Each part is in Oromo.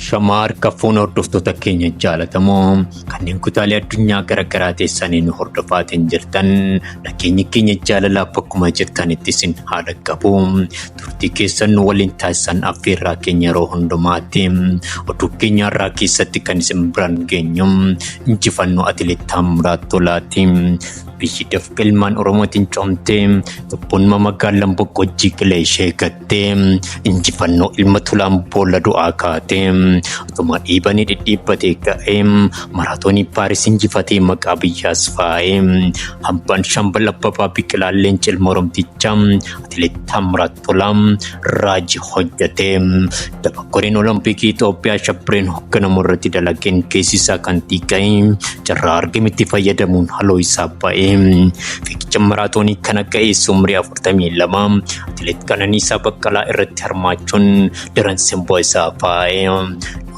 Shamaa harka fuuna hordoftoota keenya jaalatamoo kanneen kutaalee addunyaa garaagaraa teessanii nu hordofaatiin jirtan nageenyi keenya jaalalaa bakkuma jirtanitti isin haa dhaqqabu turtii keessan nu waliin taasisan affeerraa keenya yeroo hundumaatti oduu keenya irraa keessatti kan isin biraan geenyu injifannoo atileetaa muraat tolaati. Biyyi dafqa ilmaan Oromootiin coomtee tokkummaa magaalaan boqqojjii qilee ishee gatte. kaatee injifannoo ilma tulaan boolla du'aa kaatee utuma dhiibanii dhidhiibbatee ka'ee maraatoonii paaris injifatee maqaa biyyaas faayee hambaan shambal abbabaa biqilaa leencil moromticha atileet taamiraat tolaa raaji hojjetee daba koreen olompikii Itoophiyaa shabbireen hoogganamu irratti dalageen keessi isaa kan xiqqa'e carraa argametti fayyadamuun haloo isaa ba'ee fiigicha maraatoonii kan akka eessumrii 42 Atileet Qananiisaa Baqqalaa irratti hirmaachuun daran simboo isaa faa'e.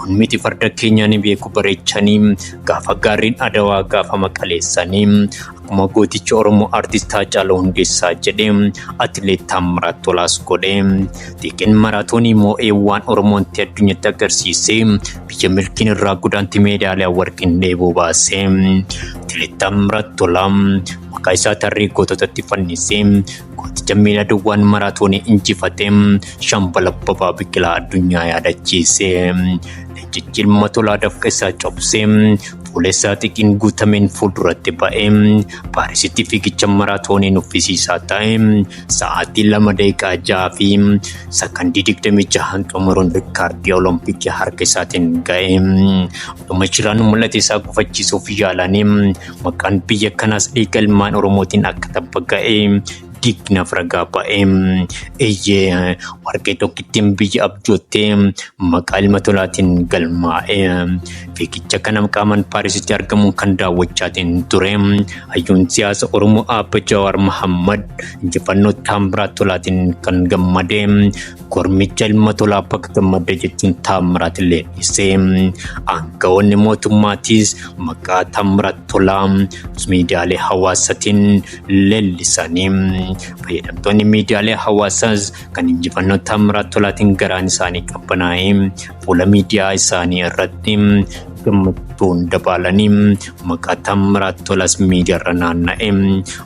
Nuun miti farda keenya ni beeku bareechanii gaafa gaariin adawaa gaafa maqaleessanii akkuma gootichi Oromoo artist Haacaaluu Hundeessaa jedhe atileet Taammiraat Tolaas godhe. Xiiqin maraatoonii moo'ee waan Oromoon ta'e addunyatti agarsiise biyya milkiin irraa gudaanti meedaaliyaa warqiin dheebuu baase. Atileet Taammiraat Tolaa maqaa isaa tarree goototatti fannise Gooticha miiladwwan maratoon injifate shambala babaa biqilaa addunyaa yaadachiise. Leencichi ilma tolaa dafqa isaa cobse fuula isaa xiqiin guutameen fuulduratti ba'e. Paarisitti fiigicha maraatoonii nuffisiisaa ta'e sa'aatii lama daqiiqaa jaha fi sakandii digdamii jahaan xumuruun rikkaardii olompikii harka isaatiin ga'e. Dhuma shiraan mul'ata isaa gufachiisuuf yaalanii Maqaan biyya kanaas dhiiga ilmaan Oromootiin akka tabba ga'e diignaaf ragaa ba'e. Eeyyee warqee tokkittiin biyya abjoottee maqaa ilma tolaatiin galmaa'e. Fiigicha kana qaamaan Paarisitti argamuun kan daawwachaatiin ture. Hayyuun siyaasa Oromoo Aabba Jawaar Mahammad injifannoo Taambiraa Tolaatiin kan gammade. Kormicha ilma tolaa bakka gammadda jechuun Taammiraat illee dhiise. Aangawoonni mootummaatiis maqaa Taammiraat Tolaa miidiyaalee hawaasaatiin leellisanii fayyadamtoonni miidiyaalee hawaasaas kan injifannoo Taammiraat Tolaatiin garaan isaanii qabbanaa'ee fuula miidiyaa isaanii irratti gammachuun dabaalanii maqaa Taammiraat Tolaas miidiyaarra naanna'e.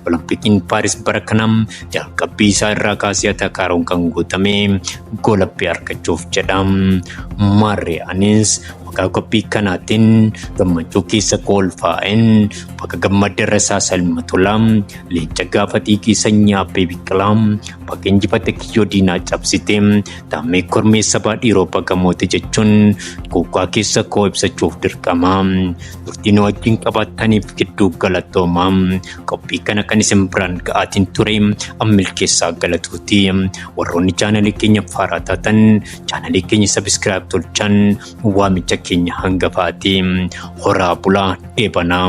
Olompikiin Paaris bara kana jalqabbii isaa irraa kaasee atakaaroon kan guutame goolabbii argachuuf jedha. Maarree anis maqaa qophii kanaatiin gammachuu keessa koolfaa'een bakka gammaddarra isaa salma tola leenca gaafa xiiqii sanyii abbee biqilaa bakka injifate kiyyoo diinaa cabsite taammee kormee sabaa dhiiroo bagamoote jechuun kuukaa keessa koo ibsachuuf dirqama turtiin wajjin qabaataniif gidduu galatoomaa qophii kana kan isin biraan ga'aatiin ture an milkeessaa galatuuti warroonni chaanalii keenya faaraa taatan chaanalii keenya sabiskiraayib tolchaan waamicha keenya hangafaati horaa bulaa dheebanaa.